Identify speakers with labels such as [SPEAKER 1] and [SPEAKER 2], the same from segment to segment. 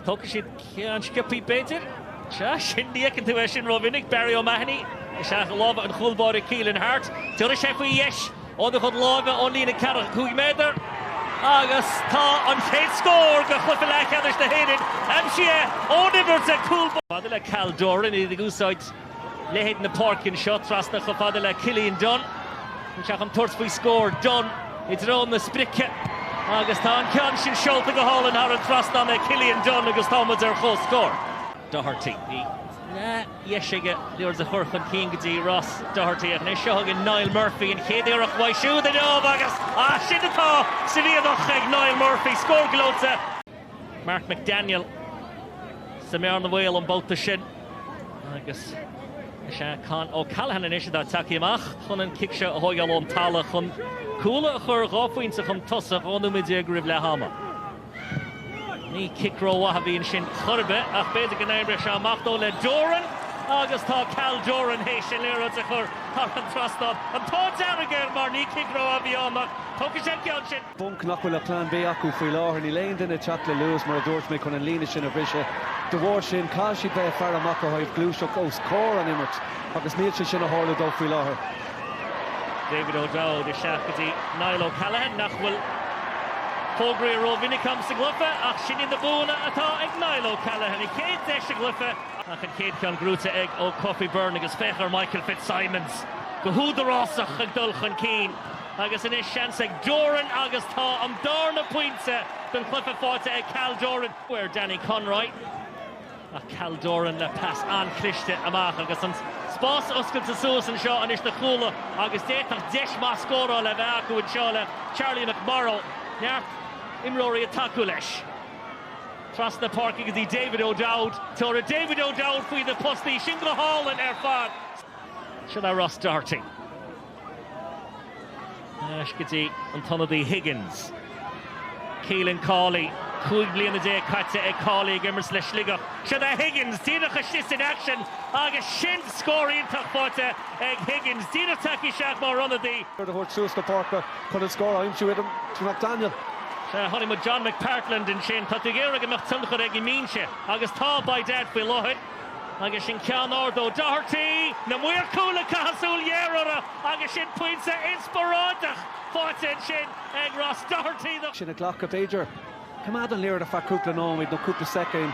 [SPEAKER 1] Tógfaidh siad ceann sciopthaí b'fhéidir? Sea, sin, ní fheiceann tú é sin rómhinic. Barry O'Mahony isteach i lámha an chúl báire Keelan Harte. Tabharfaidh sé faoi dheis óna chuid láimhe ón líne ceathracha cúig méadar, agus tá an chéad scór de chluiche leathcheannais na hÉireann aimsithe ón uimhir 10 cúl báire. Maidir le Cal Doran, iad ag úsáid. leithead na páirce anseo, trasna chomh fada le Cillian Dunne. Tá sé chun tabhairt faoi scór, Dunne i dtreo na sprice agus tá an ceann sin seolta go hálainn thar an trasnán ag Cillian Dunne agus tá muid ar comhscór. Doherty, bhí deis aige an liathróid a chur chun cinn go dtí Ross Doherty ach anois seo chugainn Niall Murphy, an chéad iarracht uaidh siúd inniu agus sin atá sa bhíothach ag Niall Murphy, scór gleoite! Mark McDaniel sa mbearna bhaoil an babhta sin agus is é Con O'Callaghan anois atá tagthaí amach chun an cic seo a thógáil ón talamh chun Cuala a chur dhá phointe chun tosaigh dhá nóiméad déag roimh leath ama. Ní cic rómhaith a bhí ansin chor ar bith ach b'fhéidir go n-oibreoidh sé amach dó le Doran agus tá Cal Doran théis an liathróid a chur thar an trasnán. An t-ádh dearg air mar ní cic rómhaith a bhí ann ach tógfaidh sé an ceann sin. bponc nach bhfuil aon Phlean B acu faoi láthair. Níl aon duine ag teacht le luas, mar a dúirt mé, chun an líne sin a bhriseadh. De bharr sin, caithfidh siad bheith ag faire amach ó thaobh gluaiseacht os comhair an imirt agus níl sé sin ag tarlú dóibh faoi láthair. David O'Dowd isteach go dtí Niall O'Callaghan, nach bhfuil fógraithe rómhinic a'm sa gcluiche, ach sin iad na buanna atá ag Niall O'Callaghan. A chéad deis sa gcluiche, ach an chéad cheann buaite ag Ó Cofaigh Byrne agus féach ar Michael Fitzsimons go húdarásach ag dul chun cinn. Agus anois seans ag Doran agus tá an darna pointe don chluiche faighte ag Cal Doran ar Danny Conroy ach Cal Doran le pas an-chliste amach agus an spás oscailte suas anseo anois do Chuala agus d'fhéadfadh deis maith scórála a bheith acu anseo le Charlie McMorrow. Neart imreoirí ag tacú leis. Trasna páirce go dtí David O'Dowd, tabharfaidh David O'Dowd faoi na postaí sin go hálainn ar fad. Sin é Ross Doherty. Ar ais go dtí an t-ionadaí Higgins. Keelan Cawley, cúig bliana déag caite ag Cawley ag imirt le Sligeach. Seo é Higgins, díreach isteach san aicsean agus sin scór iontach faighte ag Higgins. Díreach tagtha isteach mar ionadaí. Rud a thabhairt suas na páirce chun an scór a aimsiú ag Tim McDaniel. Sea, chonaic muid John McPartland ansin. Tá tú ag iarraidh go mbeadh tionchar ag an mbinse agus tá, by dad, faoi láthair. Agus sin ceann ard ó Doherty, na maoir cúil ag caitheamh súil ghéar orthu agus sin pointe inspioráideach faighte ansin ag Ross Doherty do. Sin a ghlacadh b'fhéidir. Coimeád an liathróid ar feadh cúpla nóiméad nó cúpla soicind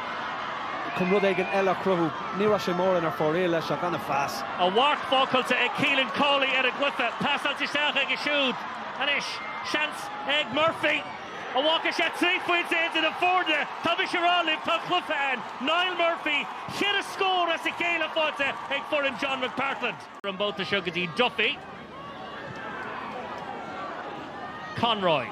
[SPEAKER 1] chun rud éigin eile a chruthú. Ní raibh sé mórán ar fóraoil leis ach gan a phas. A mharc fágtha ag Keelan Cawley ar an gcluiche. Pasáilte isteach aige siúd. Anois seans ag Murphy. An bhfágfaidh sé trí phointe idir na foirne? Tá mise á rá libh, tá an cluiche ann. Niall Murphy, ceithre scór as a chéile faighte ag foireann John McPartland. an babhta seo go dtí Duffy. Conroy.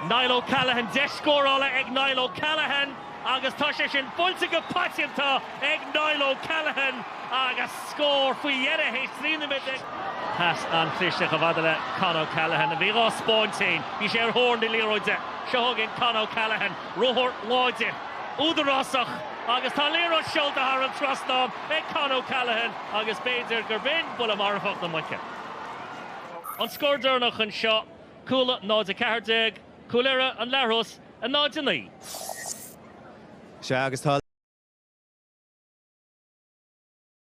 [SPEAKER 1] Niall O'Callaghan, deis scórála ag Niall O'Callaghan agus tá sé sin buailte go paiteanta ag Niall O'Callaghan agus scór faoi dheireadh théis trí nóiméad déag. Pas an-chlisteach i bhfad le Con O'Callaghan. Bhí dhá spáinn féin. Bhí sé ar thóir na liathróide. Seo againn Con O'Callaghan. Ruathar láidir, údarásach agus tá liathróid seolta thar an trasnán ag Con O'Callaghan agus b'fhéidir gurb in buille marfach na muice an scór deireanach anseo. Cuala 0, 14 Cúil Irra, An Leathros 0, 9. Sea, agus tá.